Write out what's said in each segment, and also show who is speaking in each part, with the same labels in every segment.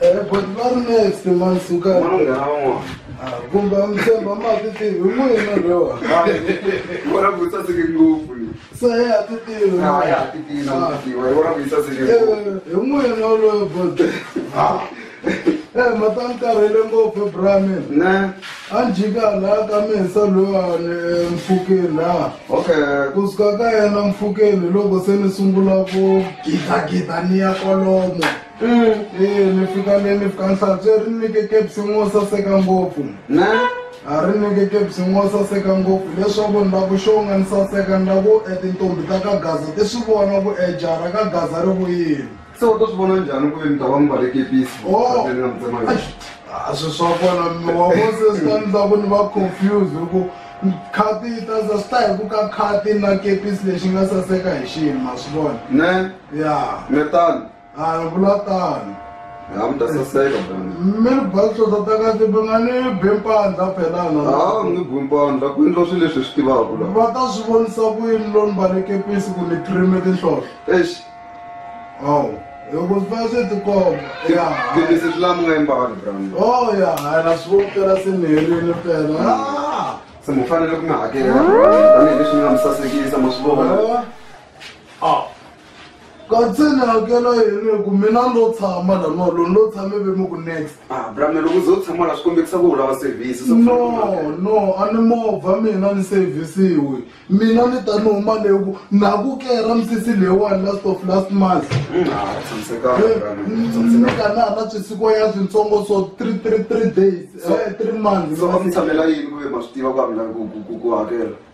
Speaker 1: Eh,
Speaker 2: but va ri next man sukani Manghana van'wana. Ah,
Speaker 1: kumbe a mi
Speaker 2: tshemba ma ti tivi hi n'wina lowa Vona ku
Speaker 1: saseke ngopfu ni. se ya ti
Speaker 2: tivi Na ya ti tina
Speaker 1: Ah. mutiwa. Hi vona
Speaker 2: ku saseke Eh, ngopfu. hi n'wina lowa but Ah. Eh, ma ta ni karhele ngopfu bramin Ne. a
Speaker 1: ni jika
Speaker 2: laha ka misa lowani emfukeni laha Okay. kusuka
Speaker 1: ka yena
Speaker 2: mfukeni loko se ni sungula ku gidagida ni ya kwalomo Ee, mi fika le mi fika nhlantswe ri nike kepsini wo saseka ngopfu na
Speaker 1: a ri nike
Speaker 2: kepsini wo saseka ngopfu leswaku ni lava ku xonga ni saseka ni lava ku e tintombi ta ka gaza ti swi vona ku e jara ka gaza ri vuyile se u ta swi vona
Speaker 1: njhani ku ve ni ta va mi vale kepisi Oh. ni nga mi tsema yona a swi swa
Speaker 2: kona mi wa vose swi ta ndla ku ni va confused hi ku khati yi ta za swi ta hi ku ka khati na kepisi lexi nga saseka hi xini ma swi vona ne ya
Speaker 1: ni
Speaker 2: tano
Speaker 1: hayi vula
Speaker 2: tano ha mi ta
Speaker 1: saseka bana mi ri basosa
Speaker 2: takati mi nga ni bempandla phelana ha mi nge bempandla
Speaker 1: ku endla swilo leswi hi swi tivaka la va ta swi vonisa
Speaker 2: ku yini lo ni balekepisi ku ni trime tinhlohlo exi
Speaker 1: awu
Speaker 2: loko swi va swi tikomba ya gidisi swi lama
Speaker 1: nga embali bran o oh, ya hayi na swi
Speaker 2: vopela se ni herile pela ah! se mi
Speaker 1: fanele ku mi hakela tanihileswi mi nga mi sasekisa ma swi vona ah.
Speaker 2: katseni hakela yini ku mina lo tshama laniwa loni lo tshame ve mi ku next ah, brame loko ze u
Speaker 1: tshama la swi kombekisa ku u lava service no no
Speaker 2: a ni movha mina ni sevhisiwi mina ni ta ni huma leyi ku na ku kera misisi leyiwani last of last month mm, ah, eh, ni ka na ha na swisiko ya swintsongo so three three three days eh, three months so va mi tshamela yini ku
Speaker 1: ve ma swi tiva ku a mina ku hakela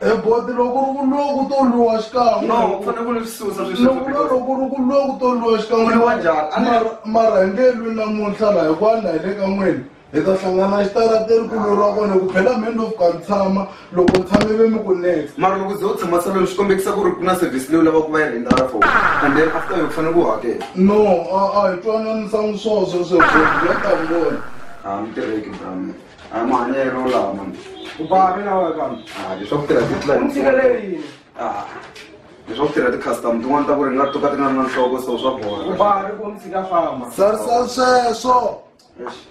Speaker 1: E boti loko ri
Speaker 2: ku loko u to lwiwa xikan'we no u fanele ku ni swi
Speaker 1: susa sweswi loko because- loko ri ku
Speaker 2: loko u to lwiwa xikan'we Ku lwiwa njhani? A ni-
Speaker 1: Mara-
Speaker 2: mara hi nge lwi namuntlha laha hikuva
Speaker 1: na
Speaker 2: hi le ka n'wini hi ta hlangana xitarateni ku lweriwa kona ku phela mheni lofu ka ni tshama loko ni tshame ve mi ku next mara loko ze u tshama
Speaker 1: saloni swi kombekisa ku ri ku na service leyi u lavaka ku va yi rhendara for and then after yo ku fanele ku hakela no a a
Speaker 2: hi twananisangi swona sweswo ya ta vona a mi tirheki
Speaker 1: bra mina Ah, mane ya ro la man. U ba re na wa ka. Ah,
Speaker 3: leswi ku tirha ti-plan.
Speaker 1: U
Speaker 3: tshikeleri.
Speaker 1: Ah. Leswi ku tirha ti-custom tin'wana ta ku ri nga tuka ti nga ri na nhloko so swa bola. U ba re ku mtshika
Speaker 3: famba. Sir, sir, sweswo. Yes.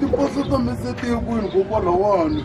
Speaker 2: tiposo ta misetiko hikokwalaho wani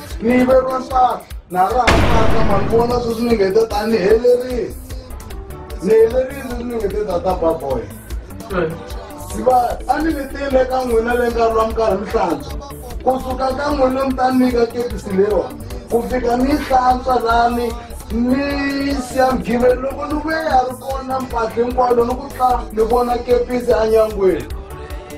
Speaker 2: ni ve va mpahla na ra ha mpahla ma ni vona sweswi ni nge te ta ni helerile ni helerile sweswi ni nge te ta ta baboy siva a ni ni tile ka n'wina le nkarhi wa minkarhi mi hlantswa ku suka ka n'wina mi ta nyika kepisi lewa ku fika ni hlantswa lani ni siyamgiveni loko ni vuye ya ri kona mpahla hinkwayo loko ku tla ni vona kepisi enyangweni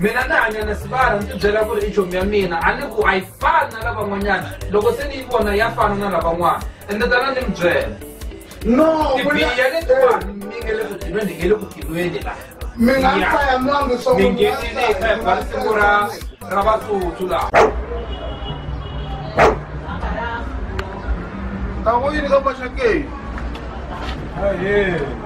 Speaker 4: mina ni hanya na sibara ni tibyela ku ri i chomi ya mina a ni ku a yi fani na lavan'wanyana loko se ni yi vona ya fana na lavan'wana ende tana ni mi byela no tibiya letiwani eh. mi nge le ku tilweni hi nge le ku tilweni la mi nga mi faya mwangu so mi ngenile hi faya bari siku ra ra vatsutsu laha Tá ruim,
Speaker 2: não vai chegar. Aê.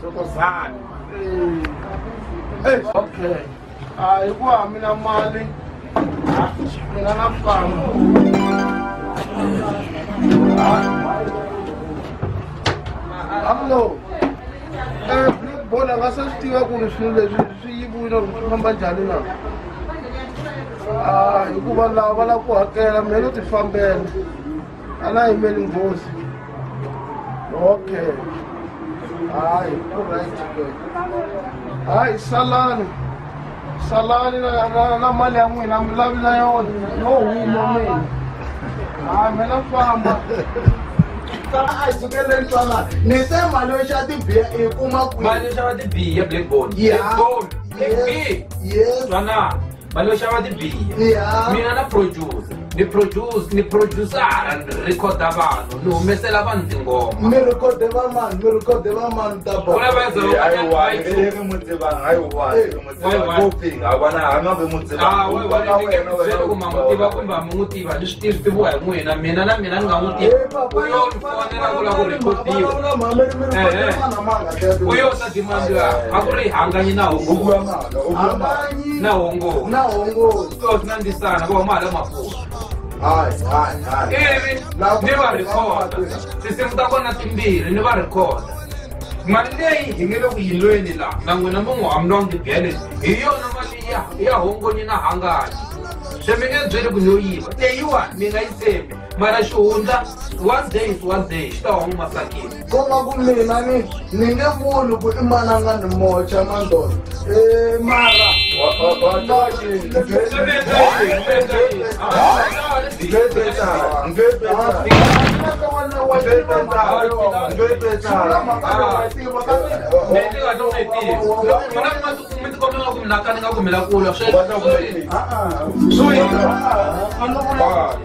Speaker 2: thokozani okay hayi ku hamina mali mina na famba amlo eh, bona nga se swi tiva ku ri swilo leswi swi yiviwile ri swi famba njhani na ah, hikuva lava va lava ku hakela mina no tifambela anayimeli nghozi okay hayi uryt ke hayi salani salani na- na- na mali ya n'wina mi lavi na yona no huma n'wina hayi mina famba a sukeleni twanana ni se mali yo xa tibiya i kuma mali yo xava tibiya
Speaker 4: blackbone blackbone blackbone
Speaker 2: twanana mali yo
Speaker 4: xava tibiya mina na producer ni produce ni producera ni rhekhoda vanhu ni humesela vanhu tingoma mi rhekode
Speaker 2: va
Speaker 4: mani
Speaker 2: mi rhekode va mani ta ba Kuna va za- Ah, we-
Speaker 4: we- ni nge mi byeli ku ma n'wi tiva kumbe a mi n'wi tiva ni swi tivi swi tiviwa hi n'wina mina na mina ni nga n'wi tivi u yo ni fonela ku lava ku rhekodiwa u yo ta dimandi a ku ri hanganyi na hungu na uongozi na uongozi so tunandi sana kwa mara makuu hai hai hai hivi Na- ni varekoda tinsimu ta kona timbirhi ni varekoda mali leyi hi nge le ku yilweni la na n'wina mi n'wi hamlwangi byele hi yona mali ya ya hongonyi na hangayi se mi nge byeli ku yo yiva leyiwani mi nga yi tshembi mara xihundla one day is one day xi ta huma masakini ko va ku mina
Speaker 2: ni ni nge vuli ku i mananga ni mocha mandolo e mara Thank you.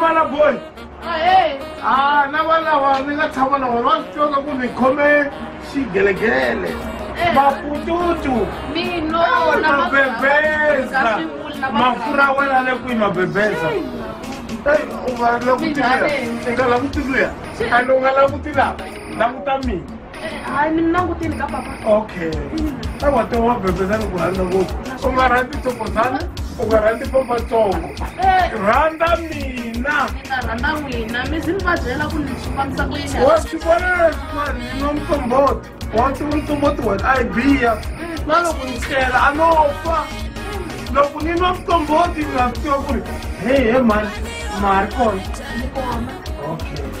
Speaker 2: Mala
Speaker 5: boy. Aye. Ah, na wala wa ni nga tshama na wona tsoka ku ni khome xigelegele. Mapututu. Mino
Speaker 6: na
Speaker 5: mabebeza. Mafura wena le ku mabebeza. Hey, u va la ku tiluya. Nga la ku tiluya. Alo nga la ku tiluya. La ku ta mina. hayi mina
Speaker 6: languteni ka papa okay
Speaker 5: awa te wa bebezani ku rhandza ngopfu u nga rhandzi tsokozana u nga rhandzi papatsongo rhandza mina rhandza n'wina mi zi mi va byela ku
Speaker 6: ni swi fambisa ku yini wa swi vona
Speaker 5: leswin'wana ni no mtsomboti wa ti mtsomboti wena a yi biya na loko ni tlela a no fa loko ni nwa mtsomboti ni nga swi tiva ku ri he he mani mari kona okay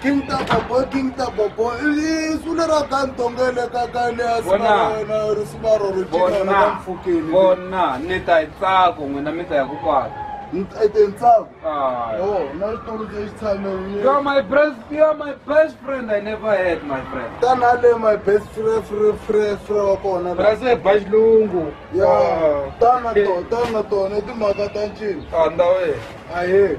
Speaker 4: King Taba
Speaker 2: boy, King Taba boy. Isuna ra gantongele ka kale ya Bona. sibara ri sibaro ri chika ra bona mfukeni. bona ni ta
Speaker 4: hi tsako n'wina mi ta ya ku kwala Ete ntsaku.
Speaker 2: Ah.
Speaker 4: Oh, na ri tulu
Speaker 2: ke tshame. You are my best,
Speaker 4: you are my best friend I never had, my friend. Tana le my best
Speaker 2: friend friend friend friend wa kona. But I say ba xilungu.
Speaker 4: Ya,
Speaker 2: tana to, tana to, ne timhaka ta ncini. Ah, ndawe.
Speaker 4: Ahe.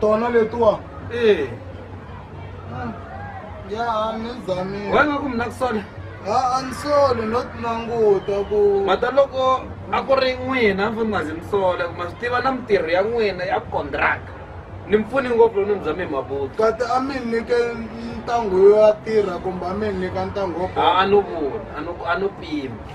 Speaker 4: tona
Speaker 2: letiwa ee ya a ni zamile wena ku mina ku
Speaker 4: sona a a ni
Speaker 2: soli no ti languta ku mata loko
Speaker 4: a ku ri n'wina a ni fanele nga zi mi sola ku ma swi tiva na mintirho ya n'wina ya kondraka ni mi pfuni ngopfu loko ni mi bya mi hi mabuti kati a mi nyike
Speaker 2: ntangu yo ya tirha kumbe a mi nyika ntangu wo a a no vula
Speaker 4: a no a no pima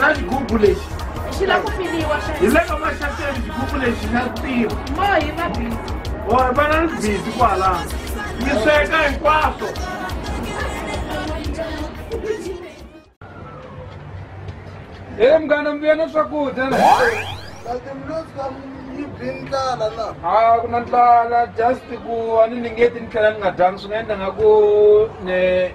Speaker 5: na xigubu lexi xi la ku pfiliwa
Speaker 6: hi le ka maxateni
Speaker 5: xigubu lexi xa tirha mohi va
Speaker 6: bizi or va na ni
Speaker 5: bizi kwalano mi sweka
Speaker 4: hinkwaswo e
Speaker 2: munghana mi
Speaker 4: vuya na swakudya
Speaker 2: a ku na ndlala
Speaker 4: just ku a ni ningeti ni tlhela ni nga dyangi swi nga endla nga ku ne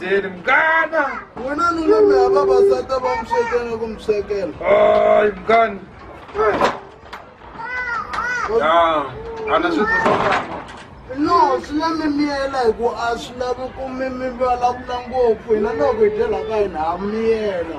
Speaker 4: jeli mgana wena nunana
Speaker 2: ya vavasati va mi swekela ku mi swekela ay mgani
Speaker 4: ya ana swi no
Speaker 2: swi na mimiyela hi ku a swi lavi ku mi mi vulavula ngopfu hina loko hi dyelaka hina ha miyela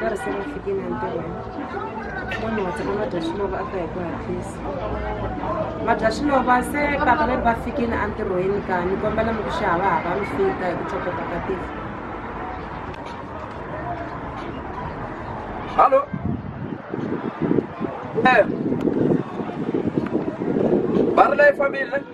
Speaker 7: darasi na fiki na ntirho munhu wa tshama madya xilova a ta hi ku hatlisa madya xilova se papa va ri va fikile entirhweni ka ni kombela mi ku xi hava hava mi fika hi ku tlhokota ka tiko
Speaker 4: hallo e ba ri la yi fambile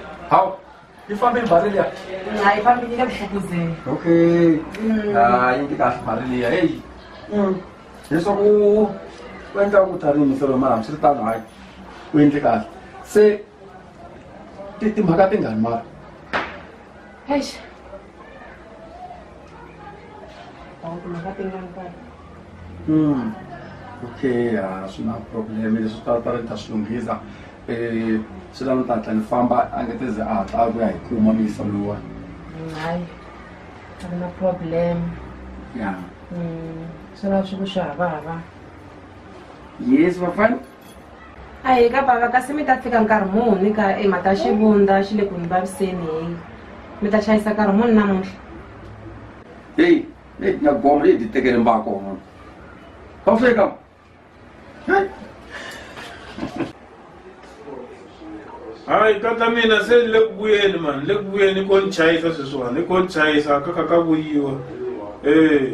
Speaker 4: hawu ifambe ibhari liya hayi ifambe nike
Speaker 7: buhlukuzeni okay
Speaker 4: mm. hayi nti kahle ibhari liya heyi mm. leswaku u endla ku ta rini solo mara swi ri tano hayi u endle kahle se timhaka tingani mara
Speaker 7: Ako na
Speaker 4: katingan ka. Hmm. Okay, ah, swi na problem leswi ta ta ri ta swi lunghisa eh swi lava ta hatla ni famba a nge te ze a hatla a vuya hi kuma misa luwa Hayi.
Speaker 7: A ku na problem. ya Mm. Swi lava swi ku swi hava hava.
Speaker 4: yes vafana a hi
Speaker 7: ka bava kasi mi ta fika nkarhi muni ka e mhaka xivundza xi le ku ni vaviseni hi mi ta chayisa nkarhi muni namuntlha
Speaker 4: heyi leyi ti nga goma leyi ti tekele mbako mona ka u fika
Speaker 5: hayi tata mina se ni le ku vuyeni mani le ku vuyeni i ko ni chayisa sweswiwani i ko ni chayisa ka ka ka vuyiwa ee